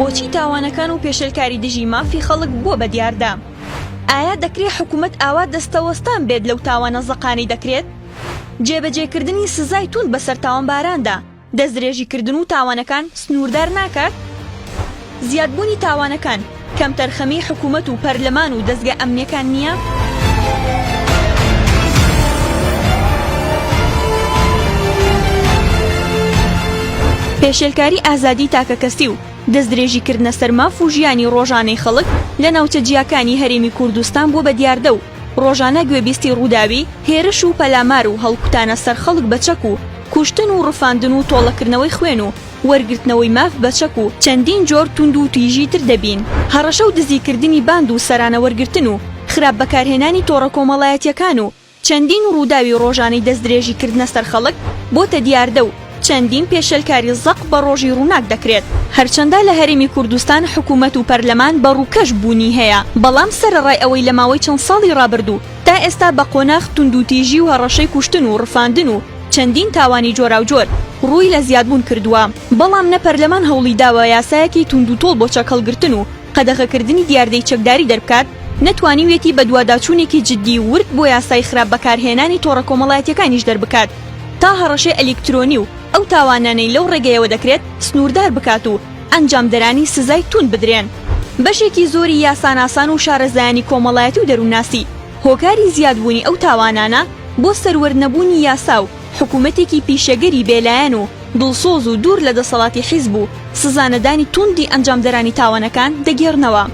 بۆچی تاوانەکان و پێشلکاری دژی مافی خەڵک بووە بە دیاردە؟ ئایا دەکرێ حکوومەت ئاوا دەستەوەستان بێت لەو تاوانە زەقانەی دەکرێت؟ جێبەجێکردنی سزای توند بەسەر تاوانباراندا، دەستدرێژیکردن و تاوانەکان سنووردار ناکات؟ زیادبوونی تاوانەکان کەمتەرخەمیی حکوومەت و پەرلەمان و دەزگە ئەمنییەکان نییە؟ پێشێلکاری ئازادیی تاکەکەسی و دەستدرێژیکردنە سەر ماف و ژیانی ڕۆژانەی خەڵک لە ناوچە جیاکانی هەرێمی کوردستان بووە بە دیاردە و ڕۆژانە گوێبیستی ڕووداوی هێرش و پەلامار و هەڵکوتانە سەر خەڵک بە چەک و کوشتن و ڕفاندن و تۆڵەکردنەوەی خوێن و وەرگرتنەوەی ماف بە چەک و چەندین جۆر توند و تیژی تر دەبین. هەڕەشە و دزی کردنی باند و سەرانە وەرگرتن و خراپ بەکارهێنانی تۆڕە کۆمەڵایەتیەکان و چەندین ڕووداوی ڕۆژانەی دەستدرێژی کردنە سەر خەڵک بۆتە دیاردە و چەندین پێشێلکاری زەق بە ڕۆژی ڕووناک دەکرێت. هەرچەندە لە هەرێمی کوردستان حکوومەت و پەرلەمان بە ڕووکەش بوونی هەیە، بەڵام سەرەڕای ئەوەی لە ماوەی چەند ساڵی ڕابردوو تا ئێستا بە قۆناخ توندوتیژی و هەڕەشەی کوشتن و ڕفاندن و چەندین تاوانی جۆراوجۆر ڕووی لە زیادبوون کردووە، بەڵام نە پەرلەمان هەوڵی داوە یاسایەکی توندوتۆڵ بۆ چەکهەڵگرتن و قەدەغەکردنی دیاردەی چەکداری دەربکات، نەتوانیویەتی بەدواداچوونێکی جددی و ورد بۆ یاسای خراپ بەکارهێنانی تۆڕە کۆمەڵایەتییەکانیش دەربکات تا هەڕەشەی ئەلیکترۆنی و ئەو تاوانانەی لەو ڕێگەیەوە دەکرێت سنووردار بکات و ئەنجامدەرانی سزای تووند بدرێن. بەشێکی زۆری یاساناسان و شارەزایانی کۆمەڵایەتی و دەروونناسی هۆکاری زیادبوونی ئەو تاوانانە بۆ سەروەرنەبوونی یاسا و حکوومەتێکی پیشەگەری بێلایەن و دڵسۆز و دوور لە دەسەڵاتی حیزب و سزانەدانی توندی ئەنجامدەرانی تاوانەکان دەگێڕنەوە.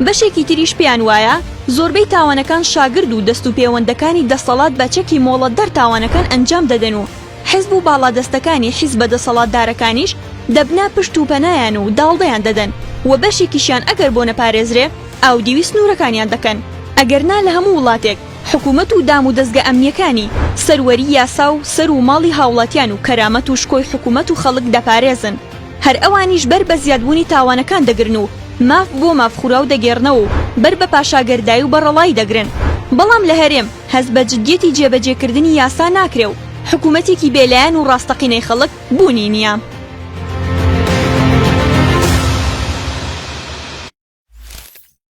بەشێکی تریش پێیان وایە زۆربەی تاوانەکان شاگرد و دەست و پێوەندەکانی دەسەڵات بە چەکی مۆڵەتدەر تاوانەکان ئەنجام دەدەن و حیزب و باڵادەستەکانی حیزبە دەسەڵاتدارەکانیش دەبنە پشت و پەنایان و داڵدەیان دەدەن و بەشێکیشیان ئەگەر بۆ نەپارێزرێ ئاودیوی سنوورەکانیان دەکەن. ئەگەرنا لە هەموو وڵاتێک حکومەت و دام و دەزگە ئەمنیەکانی، سەروەری یاسا و سەر و ماڵی هاوڵاتیان و کەرامەت و شکۆی حکومەت و خەڵک دەپارێزن. هەر ئەوانیش بەر بە زیادبوونی تاوانەکان دەگرن و ماف بۆ مافخوراو دەگێڕنەوە و بەر بە پاشاگەردای و بەڕەڵایی دەگرن. بەڵام لە هەرێم، هەست بە جدیەتی جێبەجێکردنی یاسا ناکرێ و حکومەتێکی بێ لایەن و ڕاستەقینەی خەڵک بوونی نیە.